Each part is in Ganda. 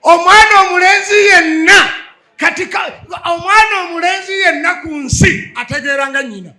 omwana omulenzi yenna kati omwana omulenzi yenna ku nsi ategeera nga nyina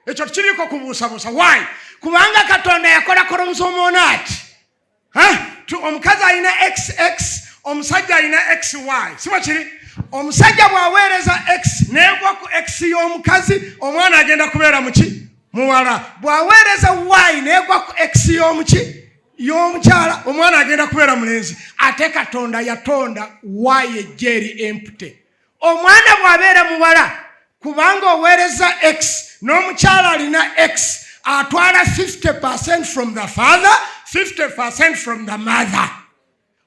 ekyo tukiriiko kubuusabuusa wayi kubanga katonda yakola koromusomu ono ati omukazi alina xx omusajja alina xy siba kiri omusajja bw'aweereza x neegwa ku x y'omukazi omwana agenda kubeera muki muwala bw'aweereza y neegwa ku x y'omuki y'omukyala omwana agenda kubeera mulenzi ate katonda yatonda waayo ejja eri empute omwana bw'abeera muwala kubanga oweereza x n'omukyala alina x atwala 50 percent from the father 50 percent from the mother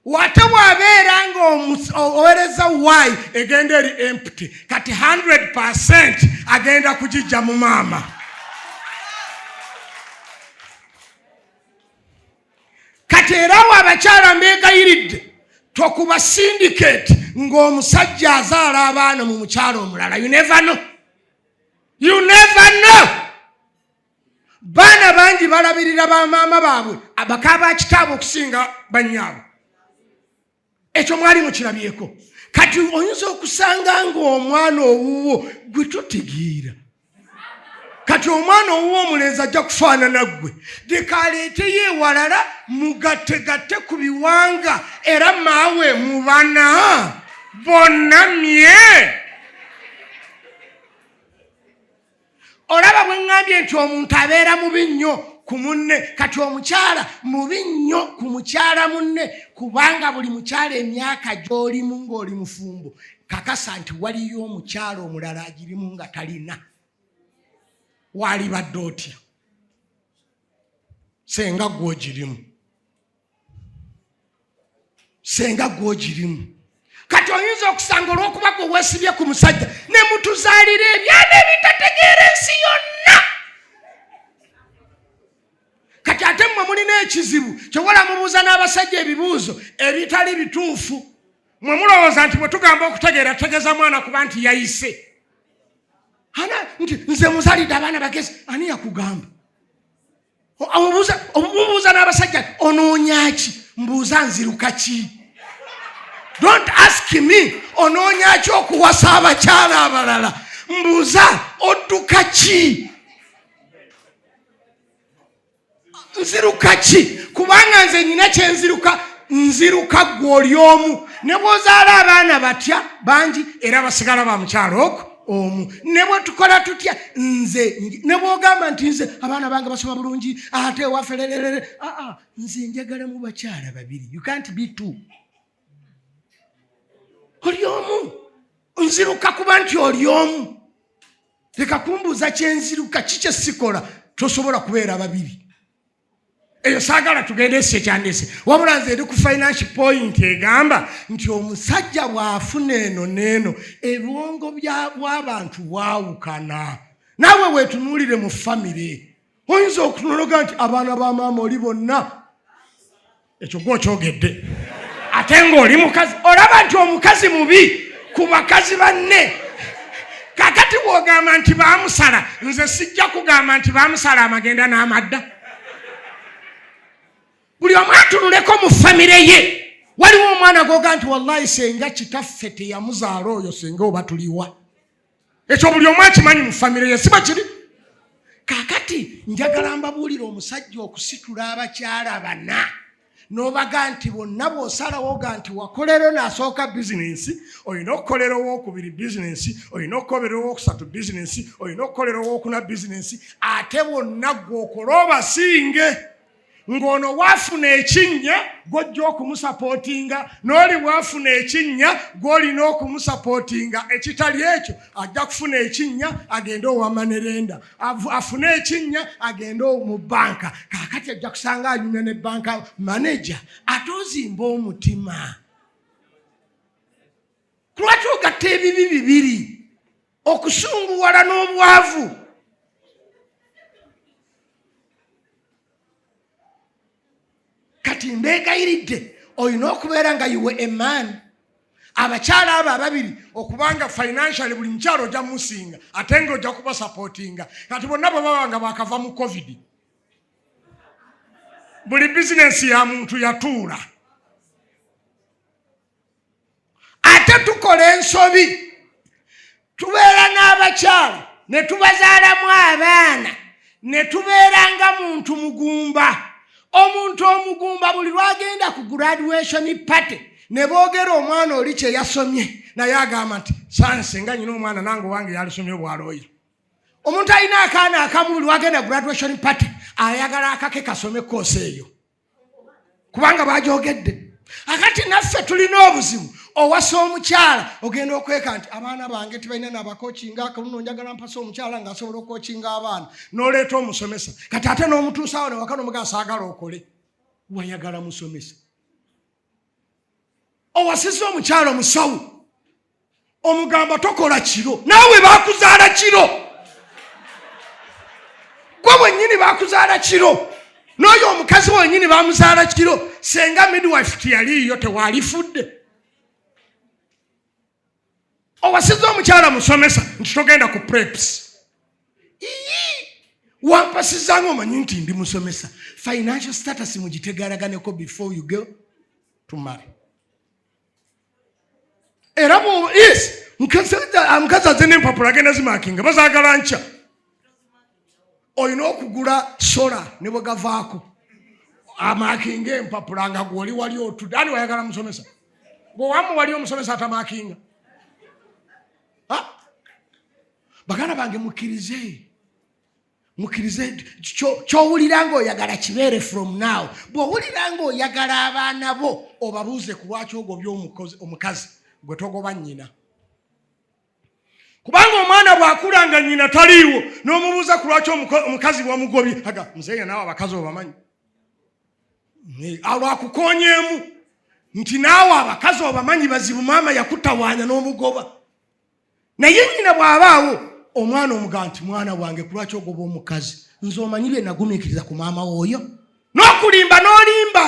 wate wabeera nga owereza y egenda eri empty kati 100 percent agenda kugijja mu maama kati era wo abakyala mbegayiridde tokuba syndicate ng'omusajja azaala abaana mu mukyalo omulala you never know you never know baana bangi balabirira bamaama baabwe abaka ba kitaabwe okusinga bannyaabwe ekyo mwali mukirabyeko kati oyinza okusanga ngaomwana owuwo gwe totegeera kati omwana owuwo omulenzi ajja kufaanana ggwe leka aleeteyo ewalala mugattegatte ku biwanga era maawe mubana bonna mye olaba bwe ŋŋambye nti omuntu abeera mubi nnyo ku munne kati omukyala mubi nnyo ku mukyala munne kubanga buli mukyala emyaka gy'olimu ng'oli mufumbo kakasa nti waliyo omukyala omulala agirimu nga talina waalibadde otya senga gwogirimu senga gwogirimu kati oyinza okusanga olwokuba gwe wesibye ku musajja ne mutuzaalira ebyana ebitategeera ensi yonna kati ate mmwe mulina ekizibu kyewola mubuuza n'abasajja ebibuuzo ebitali bituufu mwe mulowooza nti bwe tugamba okutegeera tutegeeza mwana kuba nti yayise ana nti nze muzalidde abaana bagezi ani yakugamba omubuuza omubuuza n'abasajja onoonyaki mbuuza nziruka ki don't ask me onoonyaki okuwasa abakyala abalala mbuuza odduka ki nziruka ki kubanga nze nyina kyenziruka nziruka gwe oli omu ne bwozaala abaana batya bangi era basigala ba mukyalo oku omu ne bwe tukola tutya nze ne bwogamba nti nze abaana bange basoma bulungi ate ewaffe lererere aa ah, ah, nze njagalamu bakyala babiri you can't be two oli omu nziruka kuba nti oli omu leka kumbuuza kyenziruka ki kyesikola tosobola kubeera babiri eyo saagala tugende esi ekyandese wabula nze eri ku financial point egamba nti omusajja bw'afuna eno n'eno ebwongo bw'abantu bwawukana naawe weetunuulire mu famire oyinza okunologa nti abaana ba maama oli bonna ekyo gwe okyogedde ate ng'oli mukazi olaba nti omukazi mubi ku bakazi banne kakati bwogamba nti bamusala nze sijja kugamba nti bamusala amagenda n'amadda buli omu atunuleko mu famire ye waliwo omwana goga nti wallahi senga kitaffe teyamuzaala oyo senga oba tuliwa ekyo buli omu akimanyi mu famire ye siba kiri kakati njagala mbabuulira omusajja okusitula abakyala bana nobaga nti bonna bwosalawoga nti wakolero nasooka bizinensi olina okukolera owokubiri bizinensi olina okukolera owokusatu bizinensi olina okukolera owokuna bizinensi ate bonna gwokola obasinge ng'ono waafuna ekinnya gw'ojja okumusapootinga n'oli waafuna ekinnya gw'olina okumusapootinga ekitali ekyo ajja kufuna ekinnya agende owamanerenda afune ekinnya agende mu bbanka kaakati ajja kusanga anyumya ne bbanka maneja ate ozimba omutima kulwaki ogatta ebibi bibiri okusunguwala n'obwavu kati mbeegayiridde olina okubeera nga yiwe emaani abakyala abo ababiri okubanga financially buli mukyalo ojja musinga ate nga ojja kubasapotinga kati bonna bwe baba nga bakava mu covid buli bizinensi ya muntu yatuula ate tukola ensobi tubeera n'abakyala ne tubazaalamu abaana ne tubeera nga muntu mugumba omuntu omugumba buli lwagenda ku graduation party ne boogera omwana oli kye yasomye naye agamba nti sanse nga nyina omwana nange owange yalisomye obwalooya omuntu alina akaana akamu buli wagenda graduation party ayagala akake kasome koosi eyo kubanga bagyogedde akati naffe tulina obuzibu owasa omukyala ogenda okweka nti abaana bange tibalina nabakokinga akaluno njagala mpasa omukyala nga asobola okokinga abaana noleeta omusomesa kati ate n'omutuusawo newakana omugasaagala okole wayagala musomesa owasiza omukyalo omusawu omugamba tokola kiro naawe bakuzaala kiro gwe bwenyini bakuzaala kiro n'oyo omukazi wenyini bamuzaala kiro senga midwife tiyaliiyo tewalifudde owasiza omukyala musomesa nti togenda ku preps wampasizanga omanyi nti ndi musomesa financial status mugitegalaganeko before you go to marry era yes mukazi aze nempapula agenda zimakinga bazagala nkya olina okugula sola ne bwe gavaako amakinga empapula nga gwoli wali otudde ani wayagala musomesa gwewamu wali omusomesa atamakinga baganda bange mukkirize mukkirize kyowulira nga oyagala kibeere from now bwowulira nga oyagala abaana bo obabuuze ku lwaki ogobya omukazi gwe togoba nnyina kubanga omwana bwakula nga nyina taliiwo n'omubuuza ku lwaki omukazi bwamugobye aga muzeeya naawe abakazi obamanyi alwakukonyeemu nti naawe abakazi obamanyi bazibu maama yakutawaanya n'omugoba naye nyina bw'abaawo omwana omugaa nti mwana wange ku lwaki ogoba omukazi nze omanyi bye nagumiikiriza ku maama wooyo n'okulimba n'olimba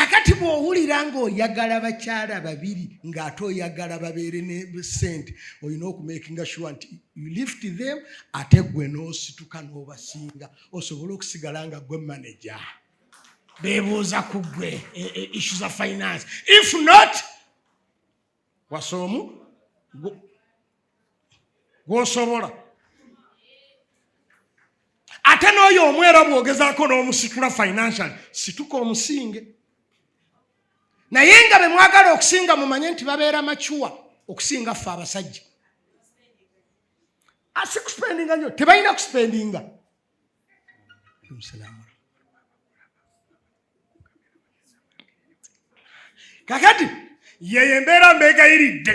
akati bw'owulira ng'oyagala bakyala babiri ng'ate oyagala babeere ne sente olina okumakinga sure nti you lift them ate gwe n'osituka n'obasinga osobole okusigala nga gwe manaja beebuuza ku gwe e, e, issu za finance if not wasa omu gwosobola ate n'oyo omu era bwogezaako n'omusitula financial situka omusinge naye nga be mwagala okusinga mumanye nti babeera macuwa okusinga ffe abasajja asikuspendinga ah, nyo tebalina kuspendinga kakati yeyo embeera mbeegayiridde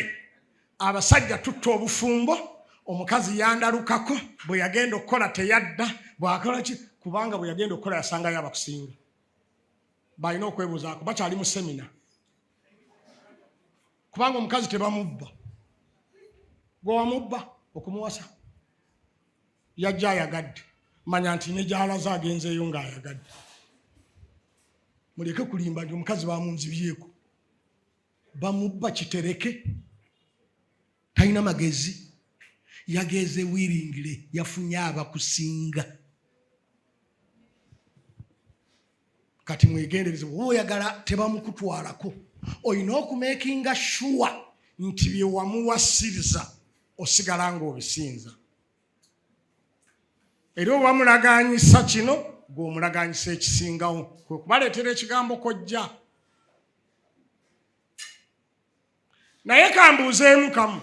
abasajja tutta obufumbo omukazi yandalukako bwe yagenda okukola teyadda bwakola ki kubanga bwe yagenda okukola yasangayo abakusinga balina okwebuuzaako bakyali mu semina kubanga omukazi tebamubba gwewamubba okumuwasa yajja ayagadde manya nti ne gyalaze agenzeeyo ng'ayagadde muleke kulimba nti omukazi bamunzibyeko bamubba kitereke talina magezi yageeze wiringire yafunye abakusinga kati mwegendereze oba oyagala tebamukutwalako olina okumekinga shuwa nti byewamuwasiriza osigala ngaobisinza era oba mulaganyisa kino gweomulaganyisa ekisingawo kwe kubaleetera ekigambo kojja naye kambuuzeemu kamu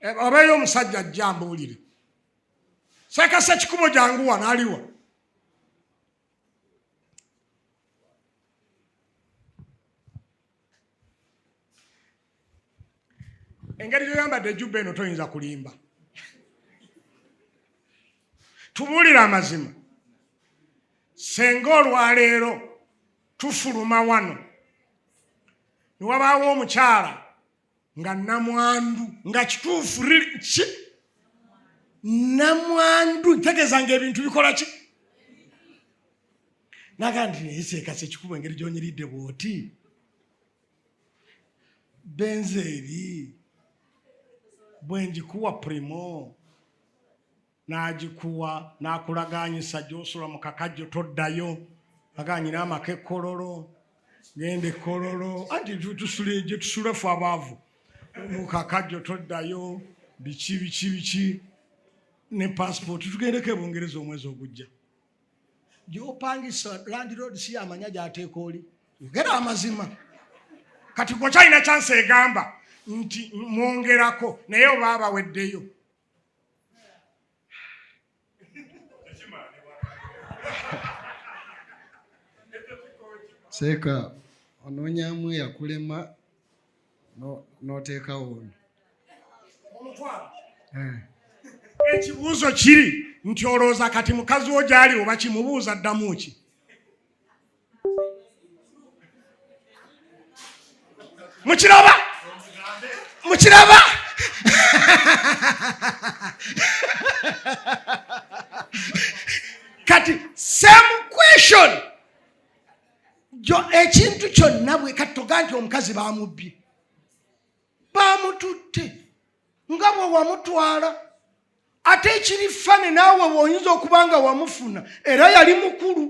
eh, obeeyo omusajja ajja mbuulire sekasa kikubo janguwa naliwa engeri gyoyambadde ejubba eno toyinza kulimba tubuulire amazima senga olwaleero tufuluma wano newabaawo omukyala nga namwandu nga kituufu ki namwandu ntegeeza nga ebintu bikola ki naga nti nayeseekasa ekikuba engeri gyonyiridde bwoti benzeeri bwengikuwa primo n'agikuwa n'akulagaanyisa gy'osula mu kakajjo toddayo agaanyina amaka ekkololo genda ekkololo anti tusula egyo tusula fe abaavu mu kakajjo toddayo biki biki biki ne pasipooti tugendeko ebungereza omwezi ogujja gyopangisa landirood si yamanya gyateeka oli yogera amazima kati gwokyalina kyansi egamba nti mwongerako naye oba abaweddeyo seeka onoonyamu eyakulema n'oteekawo ono eh. ekibuuzo kiri nti olowooza kati mukazi wo gyali oba kimubuuza ddamu ki mukiraba mukiraba kati same question ekintu kyonna bwe kati toga nti omukazi bamubbye baamututte nga bwe wamutwala ate ekiri fane naawe weoyinza okuba nga wamufuna era yali mukulu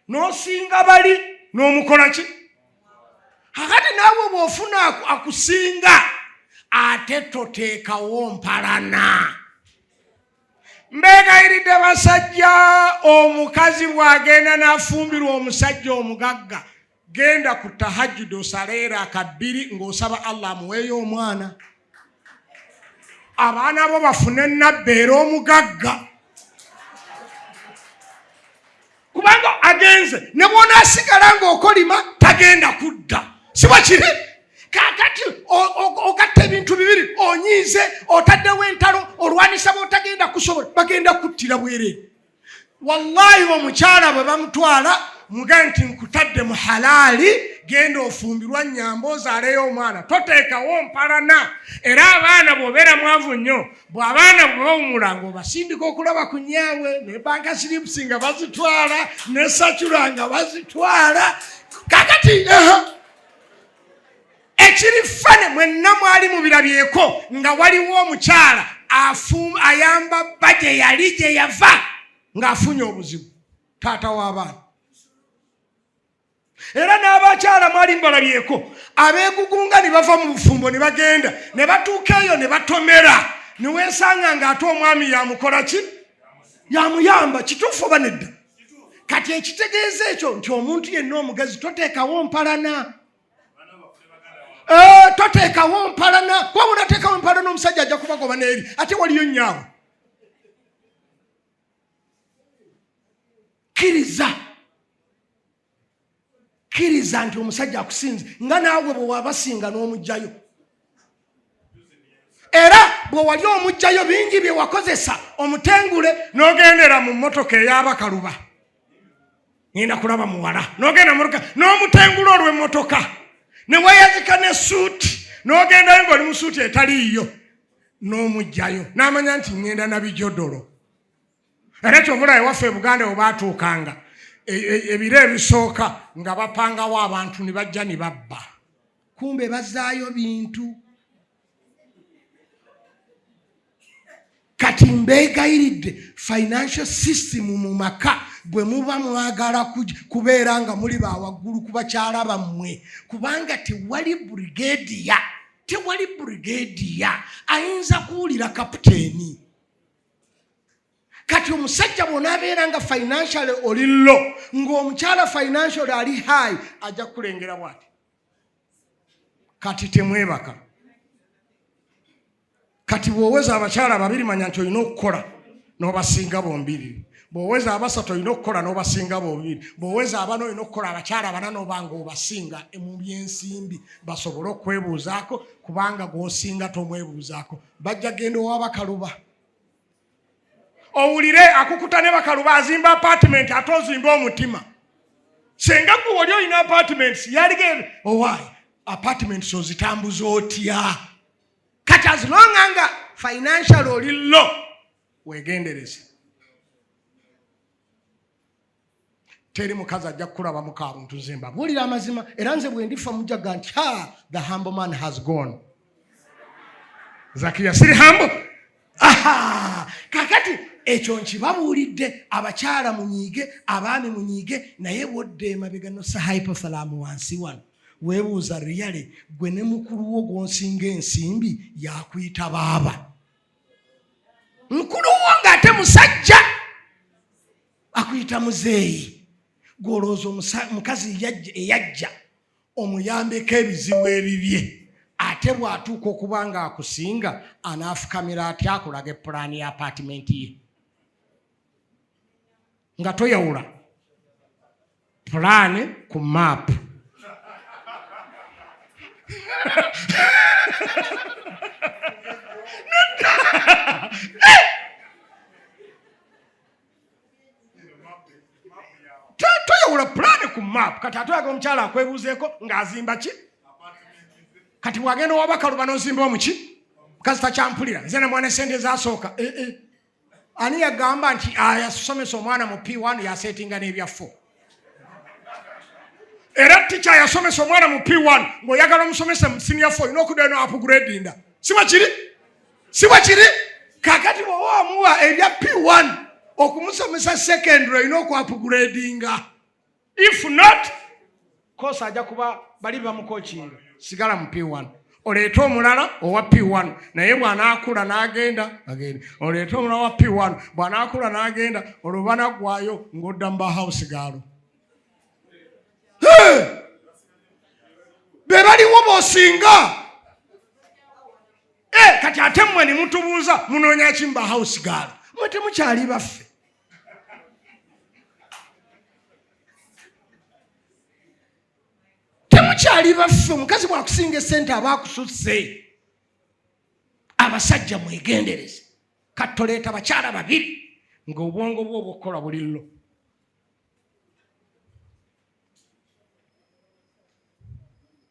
n'osinga bali n'omukola ki akati naawe bw'ofuna akusinga ate toteekawo mpalana mbeegayiridde basajja omukazi bw'agenda n'afumbirwa omusajja omugagga genda ku tahajjud osaleera akabbiri ng'osaba allah amuweeyo omwana abaana bo bafune nabbi era omugagga kubanga agenze ne bwonaasigala ng'okolima tagenda kudda siba kiri kakati ogatta ebintu bibiri onyiize otaddewo entalo olwanisa botagenda kusobola bagenda kuttira bwereere wallahi omukyala bwe bamutwala muge nti nkutadde mu halaali genda ofumbirwa nyamba ozaaleyo omwana toteekawo mpalana era abaana bwobeera mwavu nnyo bwabaana bwebawumula nga obasindika okulaba ku nyaawe ne banka silipusi nga bazitwala ne sacula nga bazitwala kakati ekiri fane mwenna mwali mubirabyeko nga waliwo omukyala ayamba bba gye yali gye yava ng'afunye obuzibu taata w'abaana era n'abakyala mwali mubalabyeko abeegugunga ne bava mu bufumbo ne bagenda ne batuuka eyo ne batomera ne weesanga ng'ate omwami yamukola ki yamuyamba kituufu oba nedda kati ekitegeeza ekyo nti omuntu yenna omugazi toteekawo mpalana Eh, toteekawo mpalana kuba munateekawo empalana omusajja ajja kubagoba neeri ate waliyo nyaawe kkiriza kkiriza nti omusajja akusinze nga naawe bwewabasinga n'omugjayo era bwe wali omugjayo bingi bye wakozesa omutengule n'ogendera mu mmotoka ey'abakaluba ngenda kulaba muwala n'ogenda mumotoka n'omutengula olw'emmotoka ne weyazika ne suuti n'ogendayo ng'oli mu suuti etaliiyo n'omugjayo n'amanya nti ngenda na bijodolo era kyovula ewaffe e buganda we baatuukanga e, e, ebiro ebisooka nga bapangawo abantu ne bajja ne babba kumbe bazaayo bintu kati mbeegayiridde financial system mu maka bwe muba mwagala kubeera nga muli bawaggulu ku bakyala bammwe kubanga tewali brigadiya tewali brigadiya ayinza kuwulira kaputeeni kati omusajja bwonaabeera nga financially oli lo ng'omukyala financially ali high ajja kukulengera bwati kati temwebaka kati bwoweza abakyala babiri manya nti olina okukola nobasinga bombiri bwoweza abasatu olina okukola nobasinga bombiri bwoweza abana olina okukola abakyala bana nobanga obasinga mu byensimbi basobole okwebuuzaako kubanga gwosinga tomwebuuzaako bajja genda owabakaluba owulire akukuta ne bakaluba azimba apartment ate ozimba omutima senga gwe wali olina apartments yalige owaayi oh, apartments ozitambuza otya kati azilonga nga financial oli lo wegendereze teri mukazi ajja kukulaba mukabuntu nze mbabuulira amazima era nze bwendifa mujaga nti ha the humble man has gone zakiya siri hambo aha kakati ekyo nkibabuulidde abakyala munyiige abaami munyiige naye bwodda emabega nosa hypothalaamu wansi wano weebuuza riyale gwe ne mukulu wo gwonsinga ensimbi yakuyita baaba mukulu wo ng'ate musajja akuyita muzeeyi gwolowooza omukazi eyajja omuyambeko ebizibu ebibye ate bw'atuuka okuba ng'akusinga anaafukamira atya akulaga epulaani ya apaatimenti ye nga toyawula pulaani ku maapu toyawula pulaani ku maapu kati atulaga omukyala akwebuuzeeko ng'azimba ki kati bwagenda owabakaluba nozimba omuki kasita kyampulira nze namwana esente ezasooka eh, eh. ani yagamba nti ayasomesa omwana mu p1 yasetinga n'ebyafo era tica yasomesa omwana mu p1 ngaoyagala omusomesa mu sinior fo olina okuddayo no apugradinda siba kiri siba kiri kakati bwoba omuwa ebya p1 okumusomesa secondary olina okuapugradinga if not kosa aja kuba bali bamukokiira sigala mu p1 oleete omulala owa p1 naye bwanaakula n'agenda agenda oleete omulala wa p1 bwanaakula n'agenda olwo banaggwayo ng'odda mu bahausi gaalo be baliwo bosinga eh, kati ate mmwe ne mutubuuza munoonyaki mu bahausi gaalo mwe temukyali baffe temukyali baffe omukazi bwakusinga esente aba akususse abasajja mwegendereze kattoleeta bakyala babiri ngaobwongo bwe obukukola buli llo